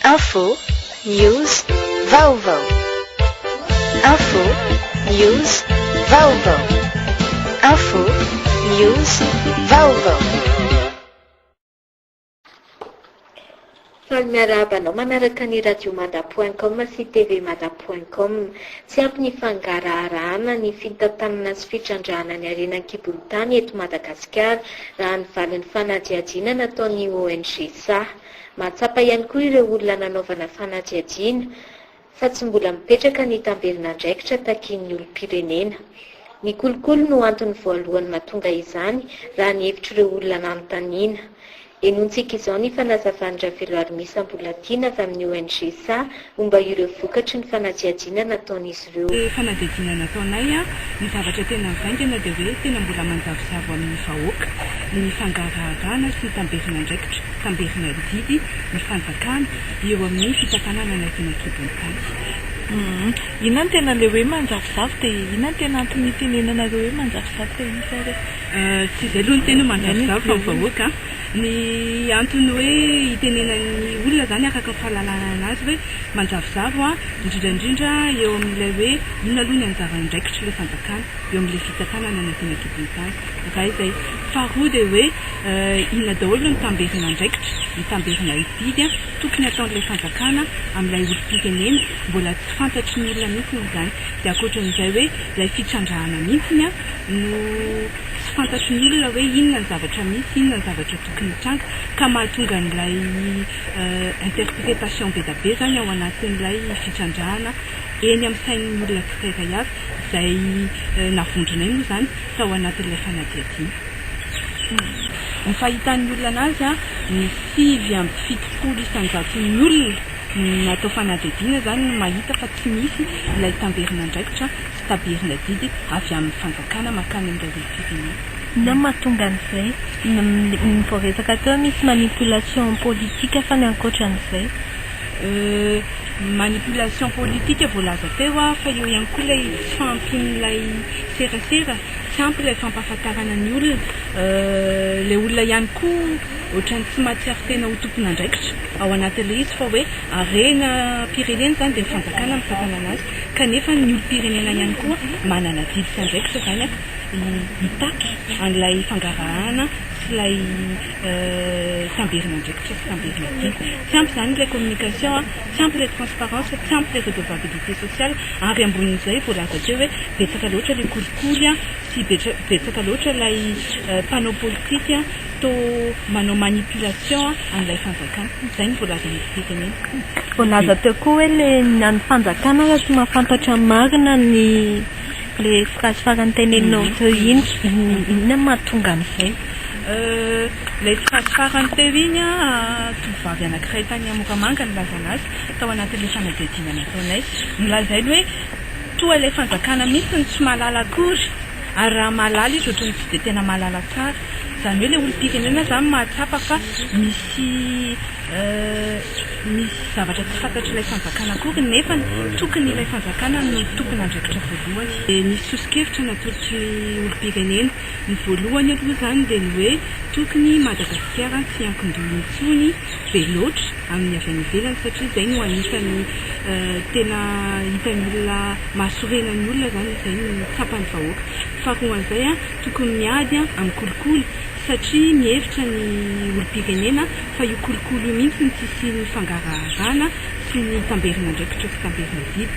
Info, News, Vaovao Info, News, Vaovao Info, News, Vaovao Faly miarahaba anao manaraka ny Radiomada point com sy tvmada point com. Tsy ampy ny fangaraharahana ny fitantanana sy fitrandrahana ny harena an-kibon'ny tany eto Madagasikara, raha ny valin'ny fanadihadiana nataon'ny ONG saha. Mahatsapa ihany koa ireo olona nanaovana fanadihadiana fa tsy mbola mipetraka ny tamberin'andraikitra takian'ny olom-pirenena. Ny kolikoly no antony voalohany mahatonga izany raha ny hevitr'ireo olona nanontaniana. Henontsika izao ny fanazavan-dRaveloarmisa Mbolatiana avy amin'ny ONG sa Momba ireo vokatry ny fanadihadiana nataon'izy ireo. Ny fanadihadiana nataonay, ny zavatra tena mivaingana dia hoe tena mbola manjavozavo amin'ny vahoaka ny fangaraharahana sy ny tamberin'andraikitra, tamberin'adidy ny fanjakana eo amin'ny fitantanana anay teny an-kibon-tany. Inona no tena ilay hoe manjavozavo dia inona no tena antony itenenanareo hoe manjavozavo dia iza ary? Tsy izay aloha ny tena hoe manjavozavo fa ny vahoaka Ny antony hoe itenenan'ny olona izany araka ny fahalalana anazy hoe manjavozavo an, indrindra indrindra eo amin'ilay hoe inona aloha ny anjara andraikitr'ilay fanjakana eo amin'ilay fitsakana any anatin'ny ankibontany. Iray izay. Faharoa dia hoe inona daholo no tamberina andraikitra, ny tamberina hididy an, tokony hataon'ilay fanjakana amin'ilay olom-pirenena, mbola tsy fantatry ny olona mihitsy izany. Dia ankoatran'izay hoe ilay fitrandrahana mihitsy an no. Tsy fantatry ny olona hoe inona ny zavatra misy, inona ny zavatra tokony hitranga, ka mahatonga an'ilay interprétation be da be izany ao anatin'ilay fitrandrahana eny amin'ny sain'ny olona tsirairay avy, izay navondronay moa izany tao anatin'ilay fanadihadiana. Ny fahitan'ny olona anazy, ny sivy amby fitopolo isan-jaton'ny olona natao fanadihadiana izany no mahita fa tsy misy ilay tamberin'andraikitra Taberina didy avy amin'ny fanjakana mankany amin'ireo olom-pirenena. Inona no mahatonga an'izay? Ny voaresaka teo misy manipulation politique fa ny ankoatran'izay? Euh, manipulation politique voalaza teo fa eo ihany koa ilay tsy fahampian'ilay serasera, tsy ampy ilay fampahafantarana ny olona, euh, ilay olona ihany koa ohatran'ny tsy mahatsiaro tena ho tompon'andraikitra ao anatin'ilay izy fa hoe harenam-pirenena izany dia ny fanjakana mitantana an'azy. Kanefa ny olom-pirenena ihany koa manana didy sy andraikitra izany an, hitaky an'ilay fangarahana sy ilay tamberin'andraikitra sy tamberina didy. Tsy ampy izany ilay communication, tsy ampy ilay transparence, tsy ampy ilay redevabilité sociale, ary ambonin'izay voalaza teo hoe betsaka loatra ilay kolikoly sy betsaka loatra ilay mpanao politika Toa manao manipulation an'ilay fanjakana. Izay no voalazan'ny firenena. Voalaza teo koa hoe le ny an'ny fanjakana raha tsy mahafantatra ny marina ny le phrase farany teneninao teo iny. Inona no mahatonga an'izay? Ilay phrase farany teo iny an, tovovavy anankiray tany amin'ny Moramanga no nilaza an'azy tao anatin'ilay fanadihadiana nataonay. Nolazainy hoe toa ilay fanjakana mihitsy no tsy mahalala akory. Ary raha mahalala izy ohatran'ny tsy dia tena mahalala tsara. Izany hoe ilay olom-pirenena izany mahatsapa fa misy misy zavatra tsy fantatr'ilay fanjakana akory nefa tokony ilay fanjakana no tompon'andraikitra voalohany. Dia nisy soso-kevitra natolotry ny olom-pirenena. Ny voalohany aloha izany dia ny hoe tokony i Madagasikara tsy hiankin-doha intsony be loatra. amin'ny avy any ivelany satria izay no anisan'ny tena hitan'ny olona mahasorena ny olona izany izay no tsapan'ny vahoaka fa koa an'izay tokony miady amin'ny kolikoly satria mihevitra ny olom-pirenena fa io kolikoly io mihitsy no tsy hisian'ny fangaraharana sy ny tamberin'andraikitra sy tamberin'adidy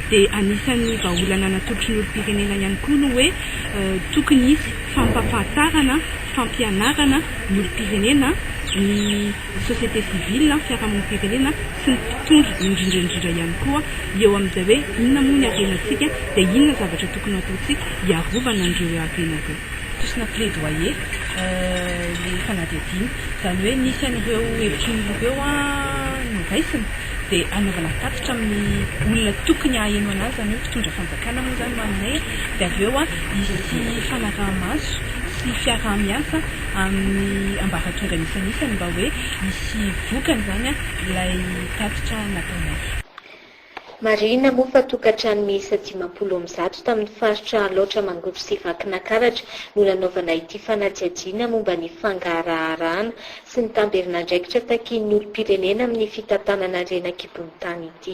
dia anisan'ny vahaolana natolotry ny olom-pirenena ihany koa no hoe tokony hisy fampahafantarana fampianarana ny olom-pirenena ny ny société civile, ny fiarahamonim-pirenena sy ny mpitondra indrindra indrindra ihany koa eo amin'izay hoe inona moa ny harenantsika dia inona ny zavatra tokony hataontsika hiarovana an'ireo hoe harena ireo. Tosina plaidoyer ilay fanadihadiana, izany hoe nisy an'ireo hevitry ny olona ireo noraisina dia hanaovana tatitra amin'ny olona tokony haheno an'azy, izany hoe mpitondra fanjakana moa izany ho aminay dia avy eo hisy fanaraha-maso sy fiaraha-miasa. amin'ny ambaratongany isanisany mba hoe hisy vokany izany ilay tatitra nataonay. Marihina moa fa tokantrano miisa dimampolo amby zato tamin'ny faritra Alaotra Mangoro sy Vakinakaratra no nanaovana ity fanadihadiana momba ny fangaharaharahana sy ny tamberin'andraikitra takian'ny olom-pirenena amin'ny fitantanana harena an-kibon'ny tany ity.